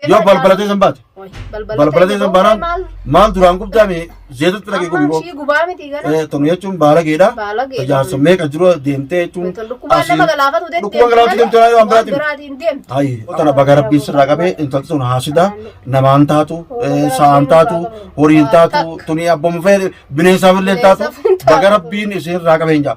Yoo balbala teessan baate. Balbala teessan baanaan maal duraan gubdaame zeetutti dhaqee gubii Ishii gubaa miti gara. Eh, tonu jechuun baalageedha. Baalageedha. Jaarsa meeqa jiru deemtee jechuun. Dhukkubaan nama galaafatu deemte. Dhukkuba galaafatu deemte malee waan biraatiin. biraatiin deemte. Ayi, tana baga rabbiin sirraa qabee intalti sun haasida namaan taatu, eh, sa'aan taatu, horiin taatu, tuni abboomu fee bineensaaf illee taatu Bineensaaf hin taatu. baga rabbiin isin irraa qabeen jaa.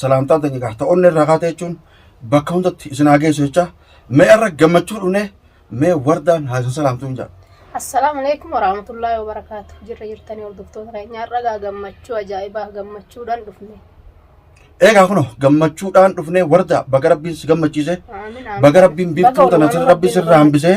salaamtaan teenya gaha ta'onne irraa kaate jechuun bakka hundatti isin haa geessu jecha mee irra gammachuu dhufne mee wardaan haa isin salaamtu hin jedha. Assalaamu alaikum warahmatullahi wabarakaatu. Jirra jirtanii hordoftoota keenya har'a gaa gammachuu ajaa'ibaa gammachuudhaan dhufne. Eegaa kunoo gammachuudhaan dhufnee wardaa baga rabbiin si gammachiise Aamin, aamin. baga rabbiin biiftuu Baga tana Oromoon rabbi sirraa hambisee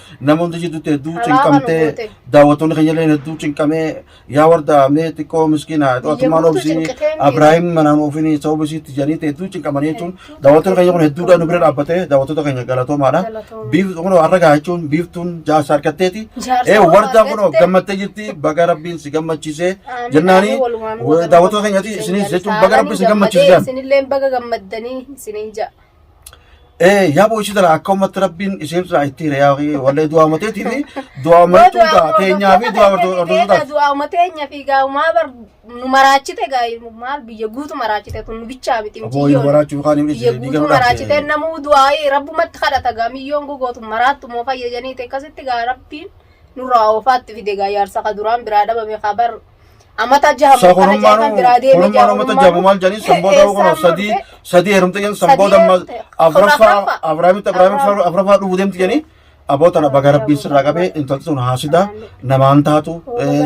Nama hunda jidduutti hedduu Haraama nu cinqamtee goote. daawwattoonni keenya illee hedduu cinqamee yaa warda mee xiqqoo miskiina Biyya atumaan guutuu obsii cinqitee miidha. Abiraahim manaan ofiin sababa isiitti jedhaniitti hedduu cinqamanii jechuun Hedduu daawwattoonni keenya kun hedduudhaan nu bira dhaabbatee daawwattoota keenya galatoomaadha. Galatoomaa. Biif- kun har'a gahaa jechuun biiftuun jaarsa argatteeti. Jaarsa Ee wardaa wardaa kun argatte. gammattee jirti baga rabbiin si gammachiisee Amiin, jennaani amiin, walumaan daawwattoota keenyati isinis jechuun baga rabbiin si gammachiisee. Isinillee baga gammaddanii isiniin ja'a. Eh, yaa boo'ichi tana akka ummatti rabbiin isheen irraa itti hire yaa wallee du'aa mateetii fi du'aa martuu ta'a teenyaa fi du'aa hordofuu ta'a. du'aa mateenya fi gaamaa bar nu maraachite gaa maal biyya guutu maraachite kun nu bichaa miti Aboo yoo waraachuu kaan hin biyya dhiisne guutu maraachite namuu du'aa rabbumatti kadhata gaa miyyoon gogootu maraattu moo fayyadanii akkasitti gaa rabbiin nurraa oofaatti fide gaa yaarsa ka duraan biraa dhabame kaa bar Amata jaha Sa mukkana jaha kan biraa kurummaan deemee kurummaan amata jabu maal jedhanii san booda kun sadii sadii heerumte jedhan san booda amma afraffaa abraamitti abraamitti afraffaa dhufu deemti jedhanii aboo tana baga rabbiin sirraa qabee intalti sun haasida namaan taatu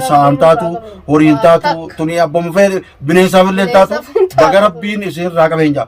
sa'aan taatu horiin taatu tunii abboomu fee bineensaaf illee taatu baga rabbiin isin irraa qabeen jaa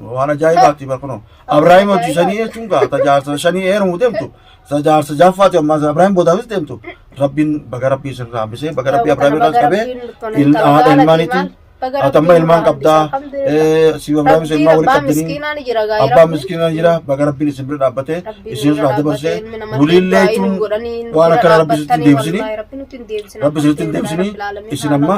Waan ajaa'ibaati bar kunoo. Abrahaam hojii shanii jechuun gaa tajaajila shanii eerumu deemtu. Tajaajila jaffaati amma Abrahaam boodaafis deemtu. Rabbiin baga rabbii sirraa hambisee baga rabbii Abrahaam irraa qabee haadha ilmaaniitiin atamma ilmaan qabdaa si Abrahaam isa ilmaa walii qabdanii abbaa miskiinaa jira baga rabbiin isin bira dhaabbatee isin irraa dabarsee buliillee jechuun waan akkana rabbi sitti hin deebisini rabbi sitti hin deebisini isin amma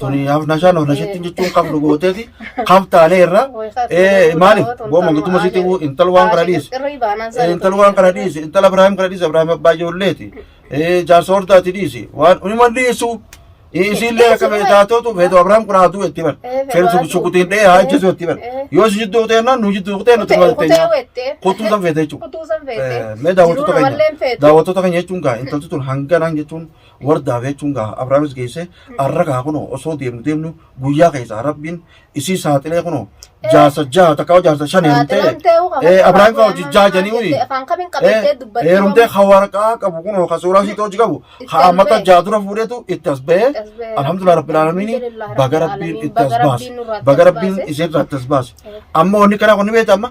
Tuni nashaan of nashitti jechuun kam nu gooteeti kam taanee irra ee maali booma giduma sitti buu intal waan kana dhiisi intal waan kana dhiisi intal Abiraahim kana dhiisi Abiraahim abbaa ijoolleeti ee jaarsa hordaati dhiisi waan hima dhiisu isiillee akka beetaatootu beetu Abiraahim kun haaduu itti bar feensu shukutiin dhee haa jesu itti bar yoo si jidduu kuteenna nu jidduu kuteenna tu malte kutuu san feete jechuudha. Mee daawwattoota keenya daawwattoota keenya jechuun gaa intalti tun hanganaan jechuun wardaaf jechuun gaa abraamis geessee arra gaa kunoo osoo deemnu deemnu guyyaa keessaa rabbiin isii saaxilee kunoo jaarsa jaha takka jaarsa shan heerumtee ee abraahim faa hojii jaha janii uni heerumtee ka waraqaa qabu kunoo ka suuraa isii hojii qabu ha ammata jaha dura fuudheetu itti as ba'ee alhamdulillah rabbil aalamiin baga rabbiin itti as baase baga rabbiin isiin irraa itti as baase amma wanni kanaa kun ni beekta amma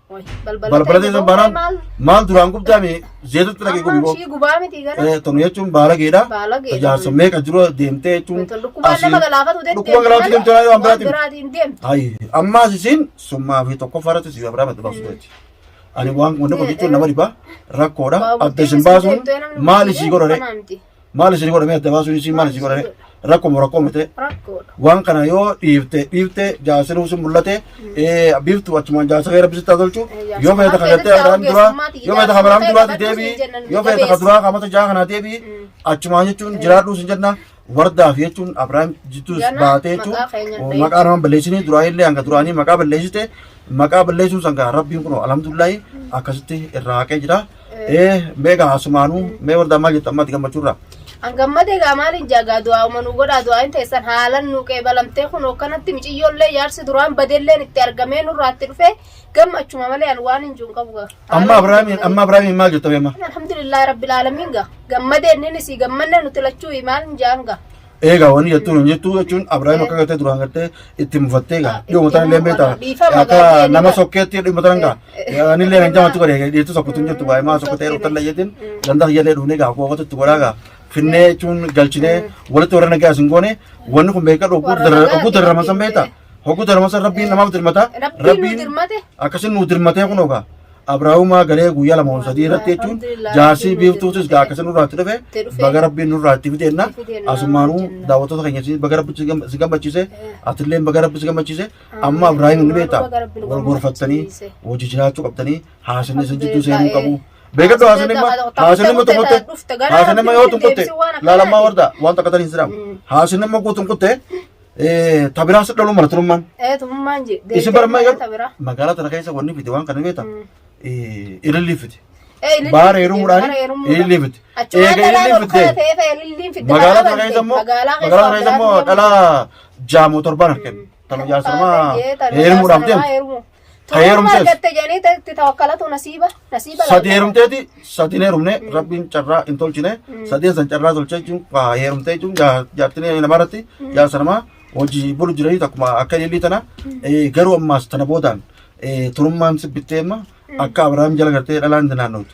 Balbala teessan baanaan maal duraan gubdaa mee zeetutti dhaqee gubi boo. gubaa miti gana. Eh, Tonu jechuun baalageedha. Baalageedha. Jaarsa meeqa jiru deemtee jechuun. Dhukkubaan nama galaafatu deemte. Dhukkubaan galaafatu deemte waan Waan biraatiin. biraatiin deemte. Ayi ammaas isin summaa fi tokko farratti si gabraa badda baasuu deetti. Ani waan wanni kun jechuun nama dhibaa rakkoodha. Waa Adda isin guddinni baasuun deemtee namni maal guddinni isii godhore? kanaa miti. Maal isin godhame adda baasuun isin maal isin godhame rakkuma rakkoo mite rakkoodha. waan kana yoo dhiifte dhiifte jaasiruu sun mul'ate ee, biiftu achumaan jaasiree rabbi sitti haa tolchu yoo feeta ka gattee abraham duraa yoo feeta ka abraham duraatti deebii yoo feeta ka duraa kamata jaa kanaa deebii achumaan jechuun jiraadhuu sin jenna wardaaf jechuun abraham jittuus Gana baatee jechuun maqaa keenya hin maqaa dhahin. naman balleessinii duraa illee hanga duraanii maqaa balleessite maqaa balleessuun sangaa rabbiin kun alhamdulillahi akkasitti irraa haqee jira Ee mee gaa asumaanuu mee wardaa maal jettu ammaatti gammachuurraa. An gammade egaa maaliin jaagaa du'aa uma nu godhaa du'aa hin teessan haalan nu qeebalamtee kun hookkanatti miciyyoollee jaarsi duraan badelleen itti argamee nurraatti dhufee gammachuma malee an waan hin jiru hin qabu gaa. Amma Abiraamiin amma Abiraamiin maal jettu beema. Alhamdulillah rabbil alamin gaa gammadee inni si gammanne nuti lachuu maal hin jaan gaa. Eegaa wanni jettuu hin jettuu jechuun Abiraayim akka gartee duraan gartee itti mufattee gaa dhiyoo mataan illee beektaa akka nama sokkeetti dhiyoo mataan gaa ani illee kan jamaatu godhe dhiyeetu sokkutu hin jettu baay'ee maa sokkotee yeroo tan layyeetiin dandaa hin jedhee dhufnee gaa kookatu itti godhaa gaa finnee jechuun galchinee walitti warra nagaa isin goone wanni kun beekaa dhoguu darraman san beektaa hoguu darraman san rabbiin namaaf dirmata rabbiin akkasiin nuu dirmatee kun ogaa Abraahumaa galee guyyaa lama ol sadii irratti jechuun jaarsii biiftuutis gaa akkasii nurraatti dhufe baga rabbiin nurraatti fideenna asumaanuu daawwattoota keenya si- baga rabbi si gam- si gammachiise atilleen baga rabbi si gammachiise amma Abraahim ni beekta wal gorfattanii hojii jiraachuu qabdanii haasinni isin jidduu seenuu qabu. Beekadhu haasinni immoo haasinni immoo tokkotte haasinni immoo yoo tokkotte laalammaa warda waan takkatan hin jedhamu haasinni immoo guutuun kutte Eh, ta biraa si dhaluu mala turummaan. Ee tumummaan je. Isin bara Deemtee magaalaa biraa. magaalaa tana keessa wanni fite waan kana beekta. Mm. Eh, ilillii fite. Ee ililliin Baara fidde, heerumuudhaan baara heerumuudhaan. ilillii fite. Achumaan Eega dhalaa ilillii tokko fidde. ta'ee ta'e ililliin fidde. Magaalaa Magaalaa tana keessa immoo Magaalaa magaalaa tana keessa immoo dhalaa jaamoo torbaan argame. Tana jaarsamaa heerumuudhaaf deemte. Toora heerumtees. argatte jedhanii itti tawakkalatu nasiiba. Nasiiba laata? Sadii heerumteeti, sadiin heerumne, rabbiin carraa hin tolchine, sadeen san carraa tolchee jechuun waa heerumtee jechuun jaa- jaartinii namaa irratti jaarsa namaa hojii bulu jiranii takkuma akka ilillii tana eh, garuu ammaas tana boodaan eh, turummaan sibbittee amma akka Abiraam jala gartee dhalaan naannootu.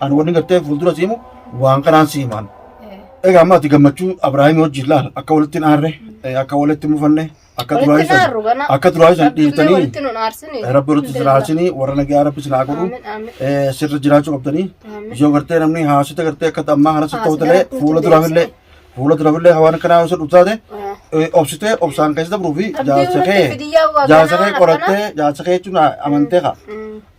Ani wanni gartee fuuldura siimu waan kanaan siimaan. Egaa amma ati gammachuu Abiraahimii wajjin laal akka walitti hin aarre eh, akka walitti hin mufanne akka duraa Walitti isan naarru kana. akka duraa isan Rabbi illee dhiirtanii walitti nun aarsine. eh, rabbi walitti isin aarsanii warra nagaa rabbi isin haa godhu Aamin, aamin. eh, sirra jiraachuu qabdanii Aamin. yoo gartee namni haasita gartee akka ammaa kana sitti Haasita hootalee irratti fuula duraaf illee Fuula durafillee hawaan akkanaa osoo dhuftu taate eh, obsitee obsaan keessa dabruu fi Abdii jaarsa irratti kee bidiyyaa waa jaarsa ganaa kee akkana. qorattee jaarsa kee jechuun amantee kaa.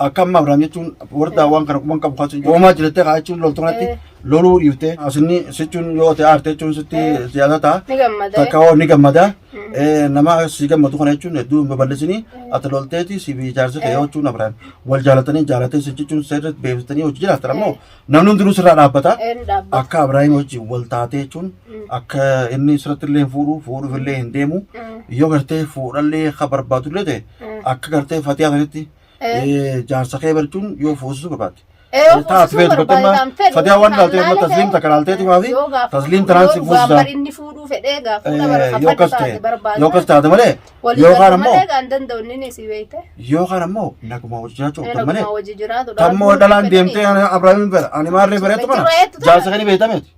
Akka amma Abiraam jechuun wardaa waan kana quban qabu kaasuun goomaa jirattee kaa jechuun loltuu kanatti Eh. loluu dhiiftee asinni sichuun yoo ta'e aarte jechuun sitti siyaasa ta'a. Ni gammada. Takka hoo ni gammada. Eh, Nama si gammadu kana jechuun hedduu hin babal'isini. Ati lolteeti si fi jaarsa kee yoo jechuun Abiraam wal jaalatanii jaalatee si jechuun seerri beeksisanii hojii jiraatan ammoo Namni hundinuu sirraa dhaabbata. Ee, ni dhaabbata. Akka Abiraahim wajjin wal taatee jechuun Mm. akka inni sirratti illee hin fuudhu, fuudhuuf illee hin deemu. Mm. Yoo gartee fuudhallee akka barbaadu illee ta'e Mm. akka gartee fatiyaa sanitti Ee. eh, jaarsa kee barchuun yoo fuusisuu barbaadde. Ee, yoo Taas fuusisuu beektu barbaade bakka kan fedhu, fatiyaa waan kan ilaalteef amma laale tasliim ta'e, takka ilaalteeti maafi? yoo gaafa Tasliim fuudhu, tanaan si yoo fuusisa. gaafar inni fuudhuu fedhee gaafa fuudha bara Eh, kan yoo fadhi akkas taate ta'e barbaada. yoo akkas taate malee Walii Yookaan galuu ammoo- malee kan danda'u inni ni si beekte. Yookaan ammoo naguma hojii jiraachuu Inni qabdan malee. akkuma hojii jiraatu dha. Tammoo Arguu dhalaan hin deemtee fedhanii. ani Abrahaamiin beera. Ani maarree bereetu kana. Bereetu kana. Jaarsa kan hin beektameeti.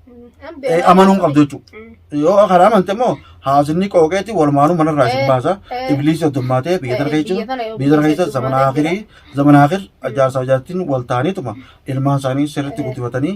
An Eh, beekaa Amanuu hin qabdu jechuudha. Mm. Yoo kana amante immoo haasinni qooqeeti walmaanuu manarraa isin Eh, baasa. eh. Ibliis oddummaatee biyya tana Eh, keessa biyya tana yoo biyya tana keessa guddisee zaman dubbate akhirii zaman akhir jaarsaa jaartiin wal ta'aniituma ilmaan isaanii sirriitti guddifatanii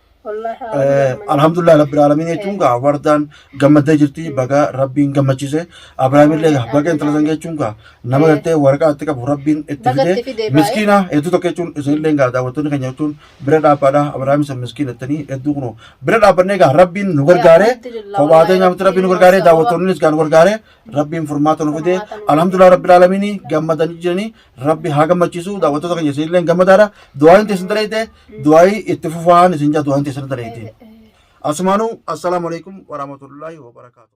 Wallaahi Eh, aalamni gammannee. alhamdulillah rabbil alamin jechuun gaa wardaan gammaddee jirti baga rabbiin gammachiise abrahaam illee gaa baga intala san jechuun gaa nama gartee waraqaa itti qabu rabbiin itti Baga itti fidee fidee baay'ee. miskiina hedduu tokko jechuun isin illee gaa daawwattoonni keenya jechuun bira dhaabbaadha abrahaam isa miskiina ittanii hedduu kunoo bira dhaabbannee gaa rabbiin nu gargaare Alhamdulillah, kophaa wallahi teenyaa miti rabbiin nu gargaare rabbiin daawwattoonnis gaa nu gargaare rabbiin furmaata nu fidee Furmaata nu fidee. alhamdulillah rabbil alamin gammadanii jiranii rabbi haa gammachiisu daawwattoota keenya isinillee gammadaadha du'aayin teessan dareete du'aayi itti fufaan isin jaa du'aayin teessan dareete asumaanuu assalaamu alaikum warahmatullaahi wabarakaatu